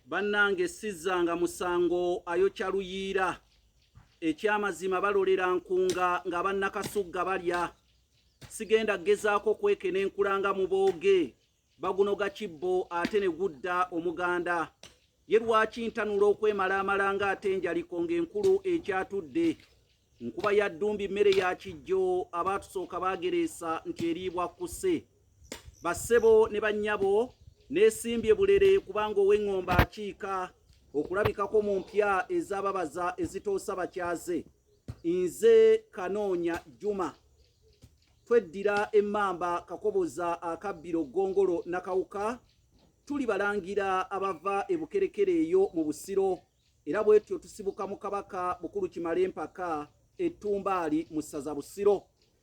bannange sizzanga musango ayokya luyiira ekyamazima balolera nkunga nga bannakasugga balya sigenda gezaako kweke nenkulanga mu booge bagunoga kibbo ate ne gudda omuganda ye lwaki ntanula okwemalaamala nga ate enjaliko ng'enkulu ekyatudde nkuba ya ddumbi mmere ya kijjo abaatusooka baagereesa nti eriibwa kkuse bassebo ne bannyabo neesimbye bulere kubanga ow'eŋŋomba akiika okulabikako mu mpya ezababaza ezitoosa bakyaze nze kanoonya juma tweddira emmamba kakoboza akabbiro ggongolo nakawuka tuli balangira abava e bukerekere eyo mu busiro era bwetyo tusibuka mu kabaka bukulu kimale empaka ettumbaali mu ssaza busiro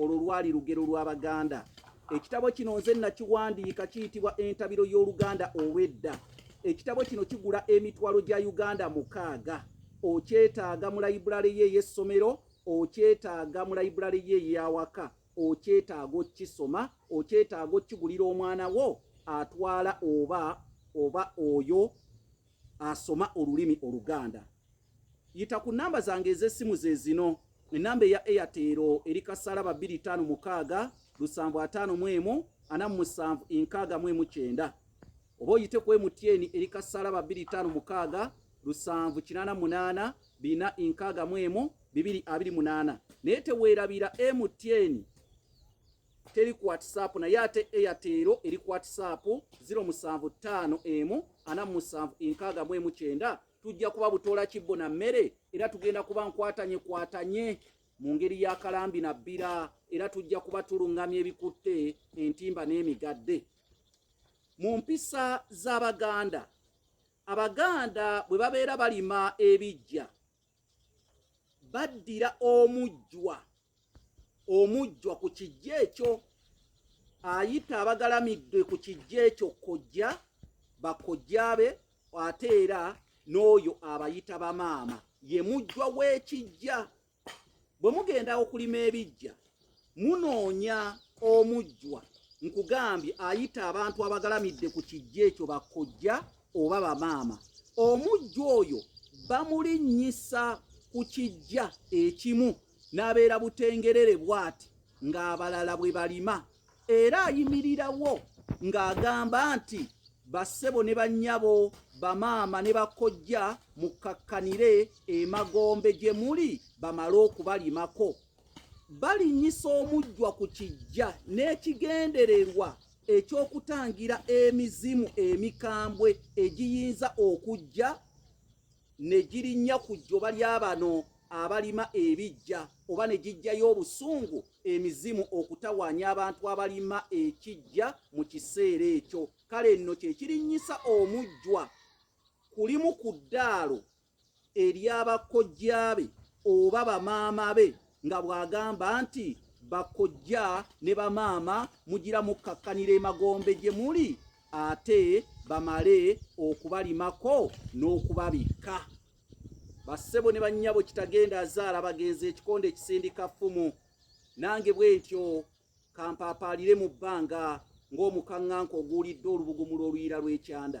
Olwo lwali lugero lw'Abaganda. Ekitabo kino nze nakiwandiika kiyitibwa Entabiro y'Oluganda olw'edda. Ekitabo kino kigula emitwalo gya Uganda mukaaga. Okyetaaga mu layibulale ye ey'essomero, okyetaaga mu layibulale ye ey'awaka, okyetaaga okukisoma, okyetaaga okukigulira omwana wo atwala oba oba oyo asoma olulimi oluganda yita ku namba zange ez'essimu ze zino enamba eya eyatero eri kasalaba 25 lusanvu ataano mu emu ana mu musanvu enkaaga mu emu kyenda oba oyite ku emutieni eri kasalaba 25 lusanvu kinaana munaana bina enkaaga mu emu bibiri abiri munaana naye teweerabira emutieni teri ku whatsapp naye ate airtel eri ku whatsapp 075 emu ana musanvu enkaaga mu emu kyenda tujja kuba butoola kibbo na mmere era tugenda kuba nkwatanye kwatanye mu ngeri ya kalambi na bbira era tujja kuba tulungamya ebikutte entimba n'emigadde mu mpisa z'abaganda abaganda bwe babeera balima ebijja baddira omujjwa omujjwa ku kijja ekyo ayita abagalamidde ku kijja ekyo kojja bakojjaabe ate era n'oyo abayita bamaama ye mujjwa w'ekijja bwe mugenda okulima ebijja munoonya omujjwa nkugambye ayita abantu abagalamidde ku kijja ekyo bakojja oba bamaama omujjwa oyo bamulinnyisa ku kijja ekimu n'abeera butengerere bwati ng'abalala bwe balima era ayimirirawo ng'agamba nti bassebo ne bannyabo bamaama ne bakojja mukkakkanire emagombe gye muli bamale okubalimako balinnyisa omujjwa ku kijja n'ekigendererwa ekyokutangira emizimu emikambwe egiyinza okujja ne girinnya ku jjoba lya bano abalima ebijja oba ne gijjayo obusungu emizimu okutawaanya abantu abalima ekijja mu kiseera ekyo kale nno kye kirinnyisa omujjwa kulimu ku ddaalo eryabakkojjaabe oba bamaama be nga bw'agamba nti bakkojja ne bamaama mugira mukkakkanira emagombe gye muli ate bamale okubalimako n'okubabikka bassebo ne bannyabo kitagenda azaala bagenzi ekikonde ekisindika ffumu nange bwe ntyo kampaapaalire mu bbanga ng'omukaŋŋanka oguulidde olubugumula oluyira lw'ekyanda